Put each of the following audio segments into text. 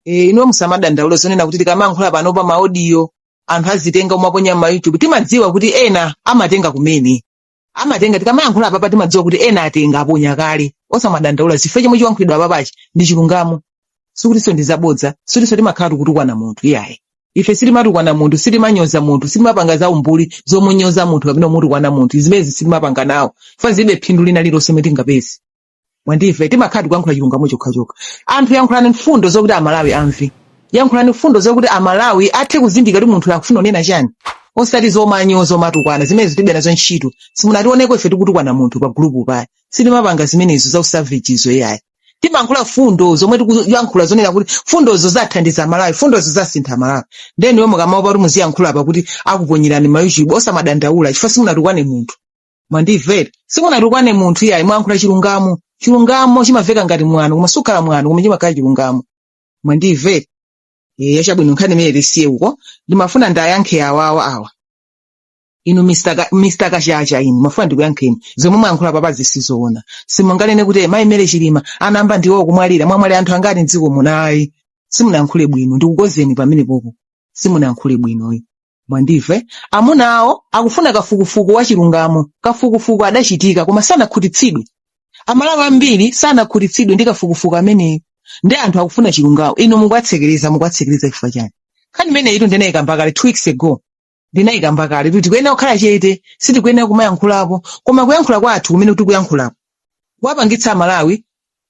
e, inu musamadandaule zonena kuti tikamayankhula pano pa maodiyo anthu azitenga kumaponya ma youtube timadziwa kuti ena amatenga kumene amatenga tikamayankhula apapa timadziwa kuti ena atenga aponya kale osamadandaula chifukwa chomwe chiwankhulidwa apapachi ndi chilungamo sikutinso ndi zabodza sikutinso timakhala tikutukwana munthu iyayi ife sitimatukwana munthu sitimanyoza munthu sitimapanga za umbuli zomunyoza munthu kapena kumutukwana munthu zimezi sitimapanga nawo chifukwa zilibe phindu lina lilonse lomwe tingapeze mwandive timakhala tikuyankhula chilungamo chokhachokha anthu yankhulani mfundo zokuti amalawi amve yankhulani mfundo zokuti amalawi athe kuzindikira kuti munthu akufuna kunena chani osati zomanyoza zomatukwana zimenezo tilibe nazo ntchito simunationeko ife tikutukwana munthu pa gulupu paya sitimapanga zimenezo za usavagezo iyayi timankhula fundo zomwe tikuyankhula zonena kuti fundozo zathandiza amalawi fundozo zasintha amalawi nde inu mukamaopa kuti muziyankhula apa kuti akuponyerani ma youtube osamadandaula chifukwa simunatukwane munthu mwandimvera simunatukwane munthu iyayi mwayankhula chilungamo chilungamo chimamveka ngati mwano koma sukhala mwano koma chimakhala chilungamo mwandimvera eya chabwino nkhani imeneyo tiyisiye uko ndimafuna ndiwayankhe awawa awa inu Mr. Ka- Mr. kachacha inu ndimafuna ndikuyankheni zomwe mwayankhula papa izi sizoona simunganene kuti mayi mary chilima anayamba ndiwo kumwalira mwamwalira anthu angati mdziko munayi simunayankhule bwino ndikukonzeni pamenepopo simunayankhule bwinoyi mwandive amuna awo akufuna kafukufuku wa chilungamo kafukufuku adachitika koma sanakhutitsidwe amalawi ambiri sanakhutitsidwe ndi kafukufuku ameneyo ndi anthu akufuna chilungamo inu mukuwatsekereza mukuwatsekereza chifukwa chani nkhani imeneyitu ndinayikamba kale two weeks ago ndinayikamba kale kuti tikuyenera kukhala chete sitikuyenera kumayankhulapo koma kuyankhula kwathu kumene tikuyankhulapo kukuwapangitsa amalawi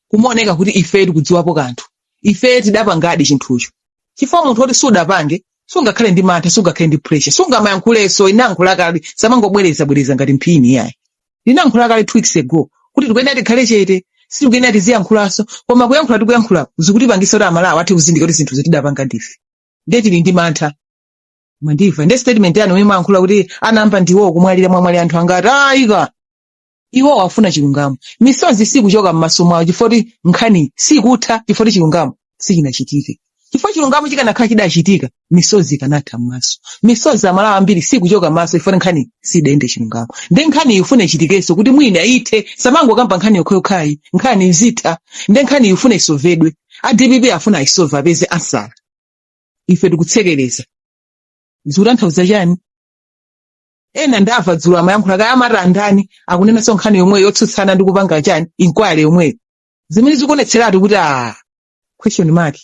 kumaoneka kuti ife tikudziwapo kanthu ife tidapangadi chinthucho chifukwa munthu woti sudapange sungakhale ndi mantha sungakhale ndi pressure sungamayankhulenso ndinayankhula kale samangobwereza bwereza ngati mphini yayi ndinayankhula kale two weeks ago kuti tikuyenera tikhale chete sitikuyenera tiziyankhulanso koma kuyankhula tikuyankhulapo zikutipangisa kuti amalawi athe kuzindikira kuti zinthu zi tidapanga ndife ndiye tili ndi mantha mwandimva ndi statement yanu yomwe mwayankhula kuti anayamba ndiwo kumwalira mwamwalira anthu angati ayika iwo akufuna chilungamo misozi sikuchoka m'maso mwawo chifoti nkhani sikutha chifoti chilungamo sichinachitike chifukwa chilungamo chikanakhala chidachitika misozi ikanatha m'maso misozi amalawi ambiri sikuchoka m'maso chifoti nkhani sidayende chilungamo nde nkhani ifunika ichitikenso kuti mwina ithe samangokamba nkhani yokhayokhayi nkhani izitha nde nkhani ifunika isovedwe a dpp afuna ayisove apeze ansala ife tikutsekereza zikutanthauza chani ena ndamva dzulo amayankhula kaya amati andani akunenanso nkhani yomweyo yotsutsana ndi kupanga chani inquiry yomweyo zimene zikuonetseratu kuti a question mark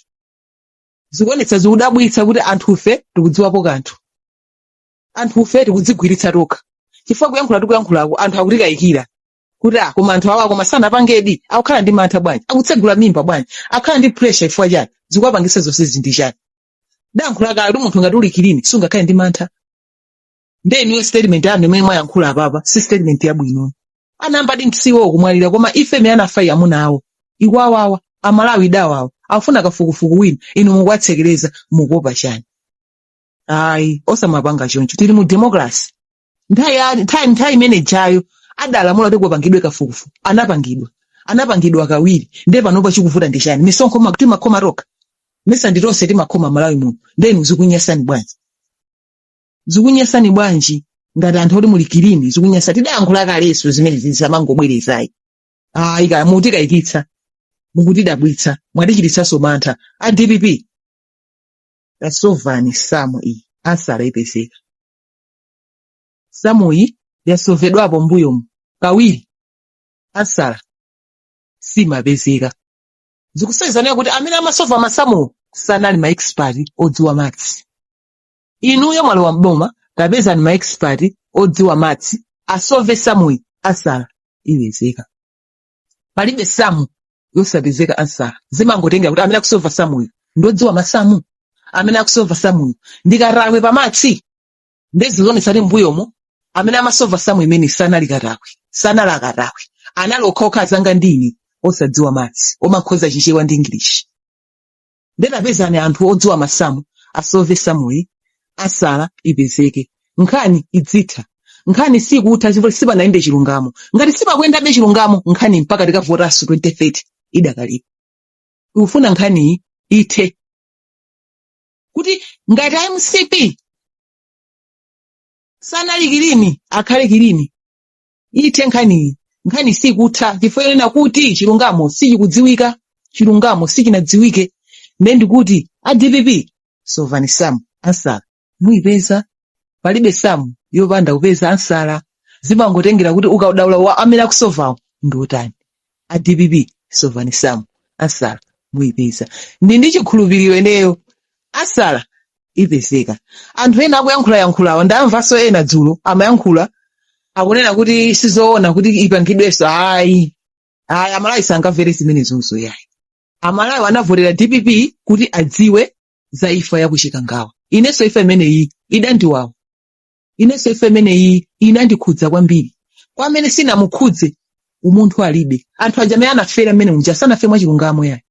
zikuonetsa zikudabwitsa kuti anthufe tikudziwapo kanthu anthufe tikudzigwiritsa tokha chifukwa kuyankhula tikuyankhulako anthu akutikayikira kuti a koma anthu awa koma sanapangedi akukhala ndi mantha bwanji akutsegula m'mimba bwanji akhala ndi pressure chifukwa chani zikuwapangitsa zonsezi ndi chani ndayankhula kale kuti munthu ngati uli kilini sungakhale ndi mantha nde inuyo statement yanu imene mwayankhula apapa si statement yabwino anayambadi si iwo kumwalira koma imfa imene anafayi amuna awo ikuwawawa amalawi idawawa afuna kafukufuku wina inu mukuwatsekereza mukuopa chani ayi osamapanga choncho tili mu democracy nthawi ya- nthawi nthawi imene ijayo adalamula kuti kupangidwe kafukufuku anapangidwa anapangidwa kawiri nde panopa chikuvuta ndi chani misonkho ma- timakhoma tokha mesa ndi tonse timakhoma m'malawi muno nde inu zikunyasani bwanji zikunyasani bwanji ngati anthu oti muli kilini zikunyasa tidayankhula kalenso zimene zisamangobwerezayi ayi kaya mukutikayikitsa mukutidabwitsa mwatichititsanso mantha a dpp tasovani samu iyi ansala ipezeka samu iyi yasovedwapo mbuyomu kawiri ansala simapezeka zikusonyezanira kuti amene amasova masamuwo sanali maexpert odziwa maths inuyo mwalowa m'boma tapezani ma expert odziwa maths asove samuyi ansala ipezeka palibe samu yosapezeka ansala zimangotengera kuti amene akusova samuyi ndodziwa masamu amene akusova samuyi ndi katakwe pa maths nde zikuonetsa kuti mbuyomo amene amasova samu imene sanali katakwe sanali akatakwe anali okhaokha anzanga ndi ine osadziwa maths omakhoza chichewa ndi english nde tapezani anthu odziwa masamu asove samuyi ansala ipezeke nkhani idzitha nkhani sikutha chifukwa sipanayende chilungamo ngati sipakuyendabe chilungamo nkhani mpaka tikavotanso 2030 idakalipo tikufuna nkhaniyi ithe kuti ngati a mcp sanali kilini akhale kilini ithe nkhaniyi nkhani sikutha chifukwa chonena kuti chilungamo sichikudziwika chilungamo sichinadziwike nde ndikuti a dpp sovani samu ansala muyipeza palibe samu yopanda kupeza ansala zimangotengera kuti ukadaulo wa amene akusovawo ndi wotani a dpp sovani samu ansala muyipeza ndi ndi chikhulupiriro ineyo ansala ipezeka anthu ena akuyankhulayankhulawa ndamvanso ena dzulo amayankhula akunena kuti sizoona kuti ipangidwenso ayi ayi amalawi sangamvere zimenezozo yayi amalawi anavotera dpp kuti adziwe za imfa ya ku chikangawa inenso imfa imeneyi idandiwawa inenso imfa imeneyi inandikhudza kwambiri kwa amene sinamukhudze umunthu alibe anthu aja amene anafera mmene unja sanafe mwachilungamo yayi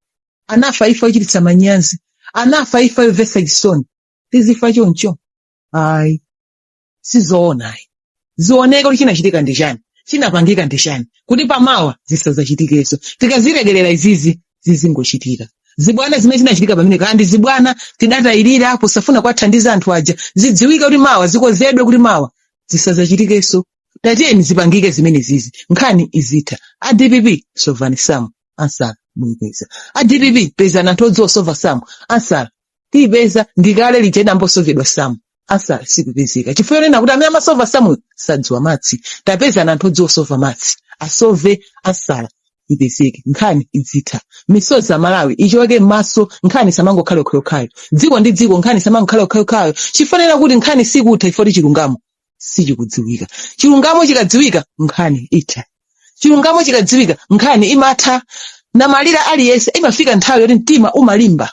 anafa imfa yochititsa manyazi anafa imfa yomvetsa chisoni tizifa choncho ayi sizoona ayi zioneke kuti chinachitika ndi chani chinapangika ndi chani kuti pamawa zisazachitikenso tikazilekerera izizi zizingochitika zibwana zimene zinachitika pamene kaya ndi zibwana tidatayirira posafuna kuwathandiza anthu aja zidziwike kuti mawa zikonzedwe kuti mawa zisazachitikenso tatiyeni zipangike zimenezizi nkhani izitha a dpp sovani samu ansala muyipeza a dpp pezani anthu odziwa kusova samu ansala tiipeza ndikale lija idayamba kusovedwa samu ansala sikupezeka chifukwa chonena kuti amene amasova samu sadziwa maths tapezani anthu odziwa kusova maths asove ansala ipezeke nkhani izitha misozi ya amalawi ichoke m'maso nkhani isamangokhala yokhayokhayo tsiku ndi tsiku nkhani isamangokhala yokhayokhayo chifanira kuti nkhani sikutha chifukwa chilungamo sichikudziwika chilungamo chikadziwika nkhani itha chilungamo chikadziwika nkhani imatha namalira aliyense imafika nthawi yoti mtima umalimba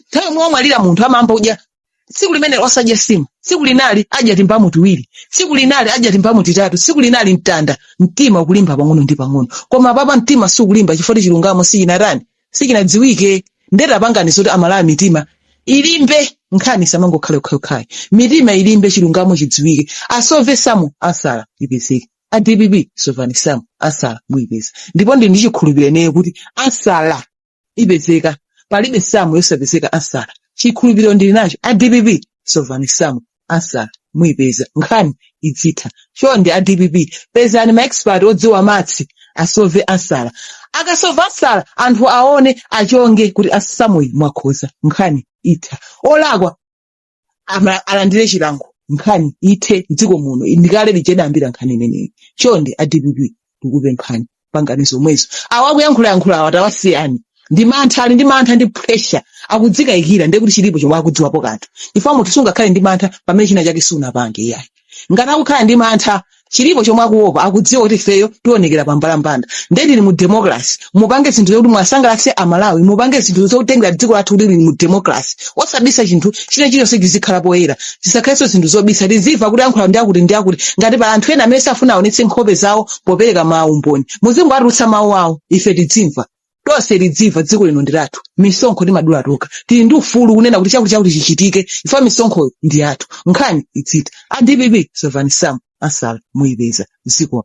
nthawi yomwe wamwalira munthu amayamba kudya tsiku limenelo osadya nsima tsiku linali adya timbamu tiwiri tsiku linali adya timbamu titatu tsiku linali mtanda mtima ukulimba pang'ono ndi pang'ono koma apapa mtima sukulimba chifukwa chilungamo sichinatani sichinadziwike nde tapangani zoti amalawi mitima ilimbe nkhani isamangokhala yokhayokhayi mitima ilimbe chilungamo chidziwike asove samu ansala ipezeke a dpp sovani samu ansala muyipeza ndipo ndili ndi chikhulupiriro kuti ansala ipezeka palibe samu yosapezeka ansala chikhulupiriro ndili nacho a dpp sovani samu ansala muyipeza nkhani idzitha chonde a dpp pezani maexpert odziwa maths asove ansala akasova ansala anthu aone achonge kuti a samuyi mwakhoza nkhani itha olakwa ama- alandire chilango nkhani ithe mdziko muno ndikale lija idayambira nkhani imeneyi chonde a dpp ndikupemphani pangani zomwezo awa akuyankhulayankhula awa tawasiyani ndi mantha ali ndi mantha ndi pressure akudzikayikira ndiye kuti chilipo chomwe akudziwapo kanthu chifukwa munthu sungakhale ndi mantha pamene china chake sunapange iyayi ngati akukhala ndi mantha chilipo chomwe akuopa akudziwa kuti ifeyo tionekera pa mbalambanda nde tili mu democracy mupange zinthu zokuti muwasangalatse amalawi mupange zinthu zotengera dziko lathu kuti lili mu democracy osabisa chinthu china chiliyonse chizikhala poyera zisakhalenso zinthu zobisa tizimva kuti ayankhula ndi akuti ndi akuti ngati pali anthu ena amene safuna aonetse nkhope zawo popereka maumboni muzingowatulutsa mawu awo ife tidzimva tonse tidzimva dziko lino ndi lathu misonkho timadula tokha tili ndi ufulu kunena kuti chakuti chakuti chichitike chifukwa misonkhoyo ndi yathu nkhani idzitha a dpp sovani samu ansala muyipeza zikomo